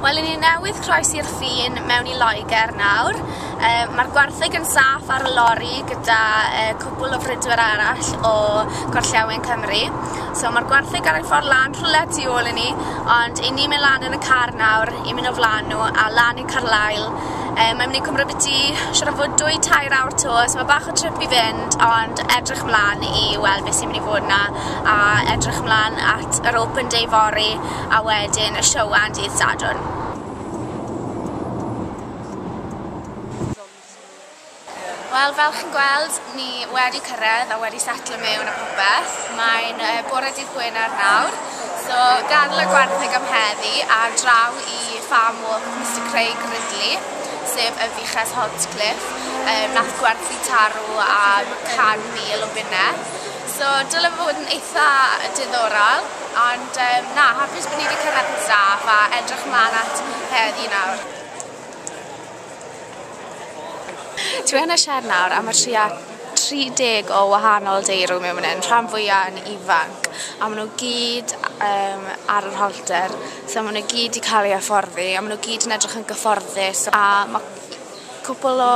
Wel, i ni newydd croes i'r ffin mewn i Loegr nawr. E, Mae'r gwartheg yn saff ar y lori gyda e, cwbl o fridwyr arall o Gorllewin Cymru. So mae'r gwartheg ar ei ffordd lan rhywle tu ôl i ni, ond i ni mynd lan yn y car nawr i mynd o flaen nhw a lan i Carlail. E, mae'n mynd i cymryd byti siarad fod dwy tair awr to, so mae bach o trip i fynd, ond edrych mlaen i weld beth sy'n mynd i fod yna a edrych mlaen at yr open day fory a wedyn y Siouan dydd Sadwrn. Wel, fel chi'n gweld, ni wedi cyrraedd a wedi setlo mewn a popeth. Mae'n uh, bore dydd Gwener nawr, so gadw y gwartheg am heddi a draw i Farm Walk Mr Craig Ridley, sef y fuches Holtcliffe, um, nath gwerthu tarw am 100,000 o bunne. So dyle fe fod yn eitha diddorol, ond um, na, hapus bod ni wedi cyrraedd yn saff a edrych mlaen at heddi nawr. Dwi yn y siar nawr am y tria 30 o wahanol deirw mewn yn rhan fwyaf yn ifanc a maen nhw gyd um, ar yr holter so maen nhw gyd i cael ei afforddi a maen nhw gyd yn edrych yn gyfforddus a mae cwpl o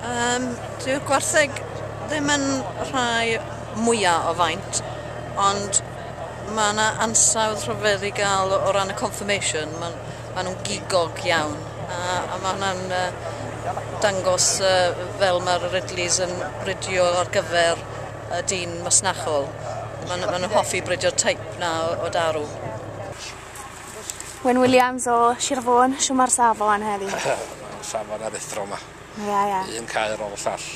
Yym, dyw'r gwartheg ddim yn rhai mwya' o faint ond ma' 'na ansawdd rhyfedd i ga'l o ran y confirmation ma'n ma' nw'n gigog iawn a a ma' hwnna'n yy dangos yy fel ma'r Ridleys yn bridio ar gyfer y dyn masnachol ma' n'w ma' n'w hoffi bridio teip 'na o o daru. Wyn Williams o Sir Fôn. Shwma'r safon heddi? safon aruthrol 'ma. Ia ia. Un cae ar ôl y llall.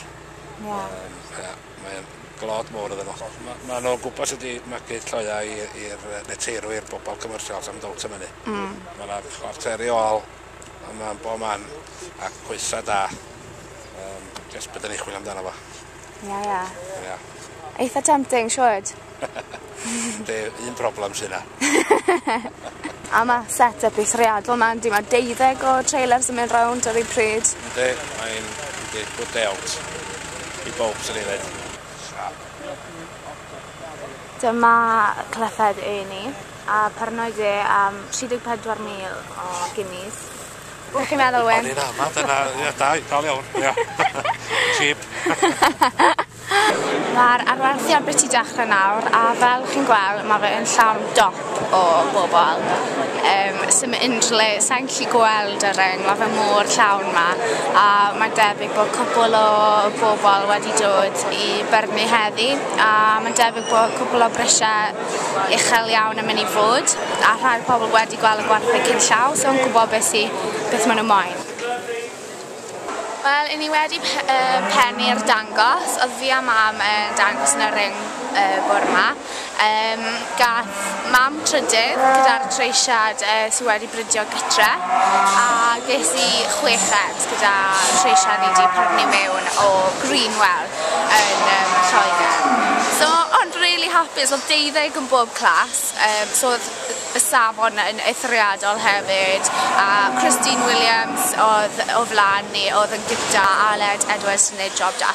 Ia. Yym ia mae o'n glod mowr iddyn nhw. Ma' ma' nhw'n gwbo sut i magu lloeau i i'r yy neteirw i'r bobol commercial sa'm dowt am ynny. Hmm. Ma' 'na chwarter i ôl yma yn bo man a coesa da. Yym jyst be' 'dan ni chwilio amdano fo. Ia ia. Ia. Eitha tempting siŵrd. Be' un problem sy 'na. A ma' set up eithriadol 'ma yndi ma' deuddeg o trailers yn mynd rownd ar ei pryd. Yndi mae'n yndi good day out i bowb swn i'n ddeud. Siap. Dyma clythau'r ynni a paranoid e am 34,000 o guineas. Be' chi'n meddwl Wyn? O'n i'n ama dyna ia da i- dal iawn ia. Cheap. Ma'r arwerthion biti dechre nawr a fel chi'n gwel' ma' fe yn llawn dop o bobol yym sim unryw le sai'n gallu gweld y ring ma' fe mor llawn 'ma a mae'n debyg bo' cwpwl o bobol wedi dod i byrnu heddi a ma'n debyg bo' cwpwl o brisie uchel iawn yn mynd i fod, a rhai o'r pobl wedi gweld y gwartheg cyn llaw, so yn gwybod beth sy, beth maen nhw moyn. Wel, i ni wedi pennu'r dangos, oedd fi a mam yn dangos yn y ring y bore 'ma. Gath mam trydydd gyda'r treisiad sydd wedi bridio gytre a ges i chweched gyda lleisiau ni di prynu mewn o Greenwell yn um, Lloegr. So, ond really hapus, oedd deuddeg yn bob clas, um, so oedd y safon yn eithriadol hefyd, a Christine Williams oedd o flan ni, oedd yn gyda Aled Edwards yn ei job da.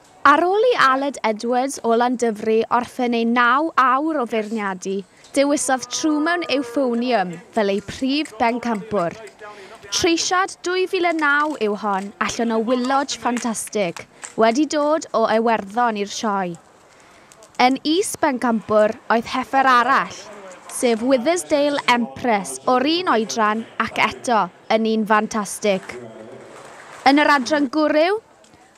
Ar ôl i Aled Edwards o Landyfri orffen ei naw awr o feirniadu, dewisodd True mewn Euphonium fel eu prif bencampwr. Treisiad 2009 yw hon allan o wyllodge ffantastig wedi dod o Iwerddon i'r Sioe. Yn is-bencampwr oedd heffer arall, sef Withersdale Empress o'r un oedran ac eto yn un ffantastig. Yn yr adran gwryw,